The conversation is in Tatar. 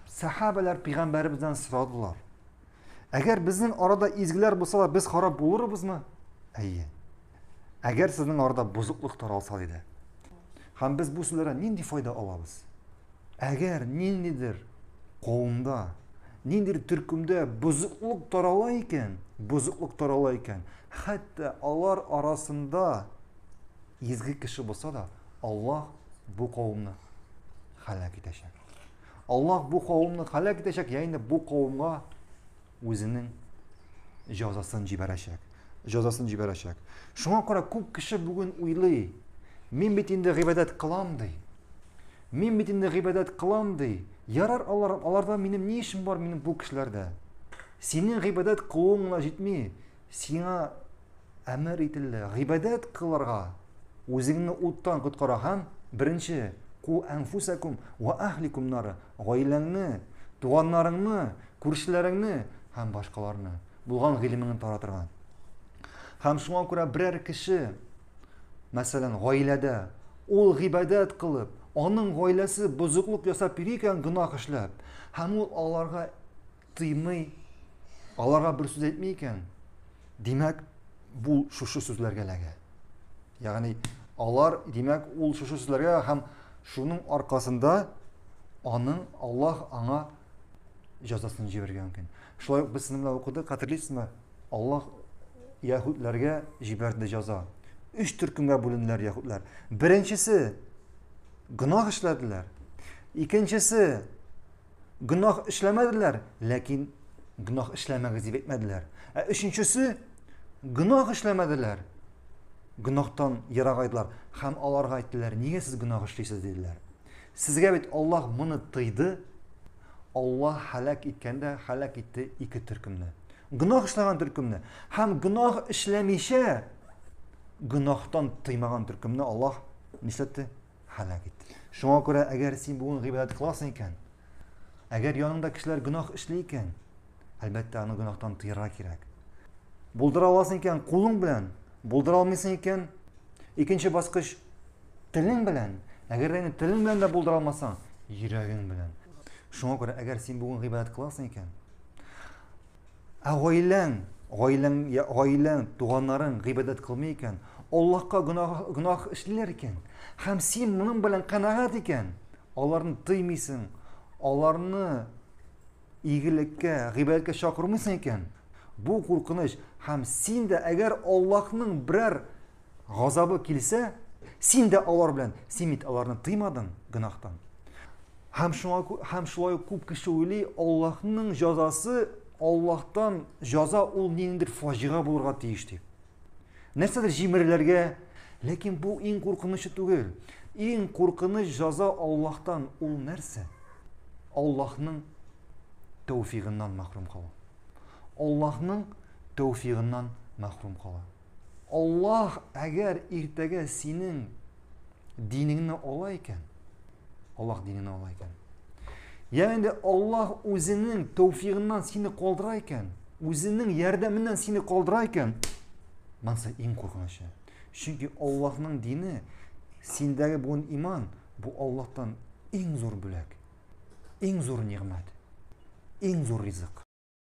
Сәхабәләр пигамбәребездән сорадылар. Әгәр безнең арада изгеләр булсалар, без харап булырбызмы? Әйе. Әгәр сезнең арада бозыклык таралса диде. Һәм без бу сүзләрдән нинди файда алабыз? Әгәр ниндидер кавымда, ниндидер төркемдә бозыклык тарала икән, бозыклык тарала икән, хәтта алар арасында изге кеше булса да, Аллаһ бу кавымны халак итәчәк. Аллаһ бу кавымны халәк итәчәк, я инде бу кавымга үзенең җәзасын җибәрәчәк. Җәзасын җибәрәчәк. Шуңа күрә күп кеше бүген уйлый, мин бит инде гыйбадәт кылам ди. Мин бит инде гыйбадәт кылам ди. Ярар алар, аларда минем ни эшем бар минем бу кешеләрдә? Синең гыйбадәт кылуың гына җитми, сиңа Әмер ителде, гыйбадәт кылырга. Үзеңне уттан коткараган, беренче, ку әнфусәкум ва әһликум нары, гаиләңне, туганнарыңны, күршеләреңне һәм башкаларны, булган гыйлемеңне таратырга. Һәм шуңа күрә берәр кеше, мәсәлән, гаиләдә, ул гыйбадәт кылып, аның гаиләсе бозыклык ясап йөри икән гөнаһ эшләп, һәм ул аларга тыймый, аларга бер сүз әйтми икән, димәк, бу шушы сүзләргә ләгә. Ягъни алар, димәк, ул шушы сүзләргә һәм шуның аркасында аның Аллаһ аңа җәзасын җибәрергә мөмкин. Шулай ук без синемләп укыдык, хәтерлисезме? Аллаһ яһүдләргә җибәрде җәза. Өч төркемгә бүленделәр яһүдләр. Беренчесе гөнаһ эшләделәр. Икенчесе гөнаһ эшләмәделәр, ләкин гөнаһ эшләмәгез дип әйтмәделәр. Ә өченчесе гөнаһ эшләмәделәр. Гөнаһтан ерак айдылар һәм аларга әйттеләр, нигә сез гөнаһ эшлисез диделәр. Сезгә бит Аллаһ моны тыйды. Аллаһ халак иткәндә халак итте ике төркемне. Гөнаһ эшләгән төркемне һәм гөнаһ эшләмичә гөнаһтан тыймаган төркемне Аллаһ нишләтте? һәлак итте. Шуңа күрә, әгәр син бүген гыйбадәт кыласың икән, әгәр яныңда кешеләр гөнаһ эшли икән, әлбәттә, аны гөнаһтан тыярга кирәк. Булдыра аласың икән, кулың белән, булдыра алмыйсың икән, икенче баскыч телең белән, әгәр дә телең белән дә булдыра алмасаң, йөрәгең белән. Шуңа күрә, әгәр син бүген гыйбадәт кыласың икән, Ә гаиләң, гаиләң, гаиләң, туганнарың гыйбадәт кылмый икән, Аллаһка гөнаһ, гөнаһ эшлиләр икән, һәм син моның белән канәгать икән, аларны тыймыйсың, аларны игелеккә, гыйбадәткә чакырмыйсың икән, бу куркыныч, һәм син дә әгәр Аллаһның берәр газабы килсә, син дә алар белән, син бит аларны тыймадың гөнаһтан. Һәм шуңа һәм шулай ук күп кеше уйлый, Аллаһның җәзасы, Аллаһтан җәза ул ниндидер фаҗига булырга тиеш дип. Нәрсәдер җимерләргә, ләкин бу иң куркынычы түгел. Иң куркыныч җәза Аллаһтан ул нәрсә? Аллаһның тәүфигыннан мәхрүм калу. Аллаһның тәүфигыннан мәхрүм калу. Аллаһ, әгәр иртәгә синең динеңне ала икән, Аллаһ диненә ала икән. Ягъни инде Аллаһ үзенең тәүфигыннан сине калдыра икән, үзенең ярдәменнән сине калдыра икән, монысы иң куркынычы. Чөнки Аллаһның дине, синдәге бүген иман, бу Аллаһтан иң зур бүләк, иң зур нигъмәт, иң зур ризык.